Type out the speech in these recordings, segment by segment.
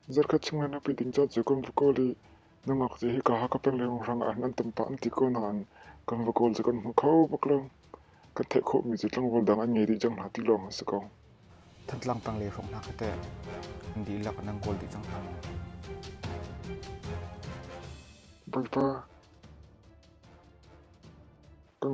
Zarhkhat chung an api ding caan cu kan va kawl i nungak cio hika Hakha peng lengluanghrang ah hin an tam pah an ti ko nain kan va kawl cu kan hmu kho bak lo. Kan theih khawhmi cu tlangval dang an ngei dih cang hna ti lawng a si ko. Thantlang tanglei hrawng hna kha teh an dihlak nan kawl dih cang hna maw? Bawipa, kan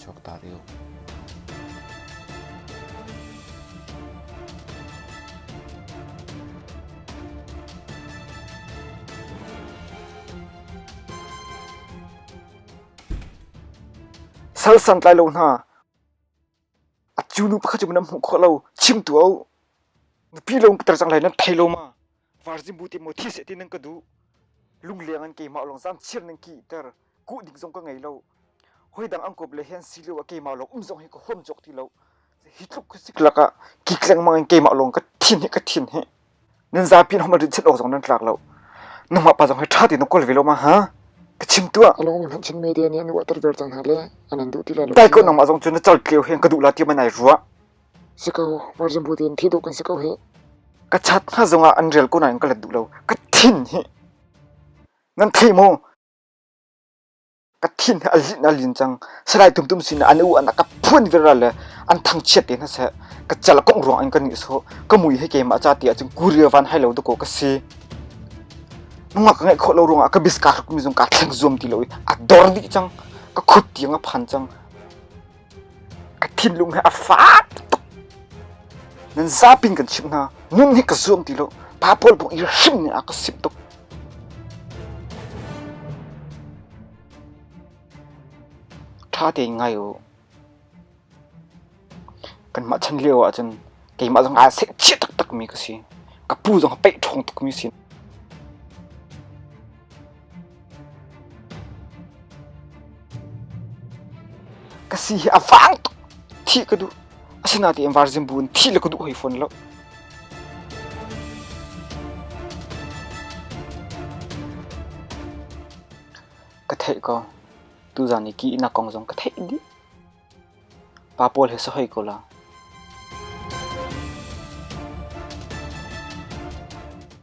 chuaktak i uk. Sang sang tlai lo hna. A cu nu pakhat cu nan hmuh kho lo. Chim tu au. Nupi lo peter chang lai nan thei lo ma. Varzimu te mo thi se ti nan ka duh. Lungleng an keimah long zam chir nan ki ter kuh ding zong ka ngei lo. Hoi dang angkop le hen si lo a keimah long um zong hi ka hom jok ti lo. Hi tluk ku sik lak ah ki kleng mang an keimah long ka thin hi ka thin hi. Nan zapin hom rin chet ok zong nan tlak lo. Nangma pa zong hi tha ti nan kol ve lo ma ha. Ka chim tua. Along han chin media nih an water ver cang hale. Anan duh ti la lo. Dai ko nangma zong cu na chal tleu hen ka duh la ti manai ruwa. Si ko, virgin beauty in thi duk kan si ko hi. Ka chat hna zong ah an rel ko nain ka let duh lo. Ka thin hi. Nan thi mu. Ka thin a lin a lin cang. Salai tum tum sin an u an ka phuan viral le an thang chiat te na se ka chal kong ruang in ka ni so ka mui he ke ma cha ti acung kuria van hai lo to ko ka si. Nunga ka ngai kho lo ruang ah ka biska ruk mi zong ka thleng zuam ti lo i a dor di cang. Ka khut tiang a phan cang. a thinlung he a faak tuk nan zapin kan chimh hna nun hi ka zuam ti lo pa pawl buk i hrim ne a ka sim tuk ṭha tein ngai u kan mah chan lio ahcun keimah zong aa sek chia taktak mi ka si ka pu zong a peih ṭhawng tuk mi si ka si hi avang tuk thi ka du asina ti virgin bu thi le ka du hoi phone lo ka thei ko tu zan ni ki ina kong zong ka thei di pa pol he sahoi ko la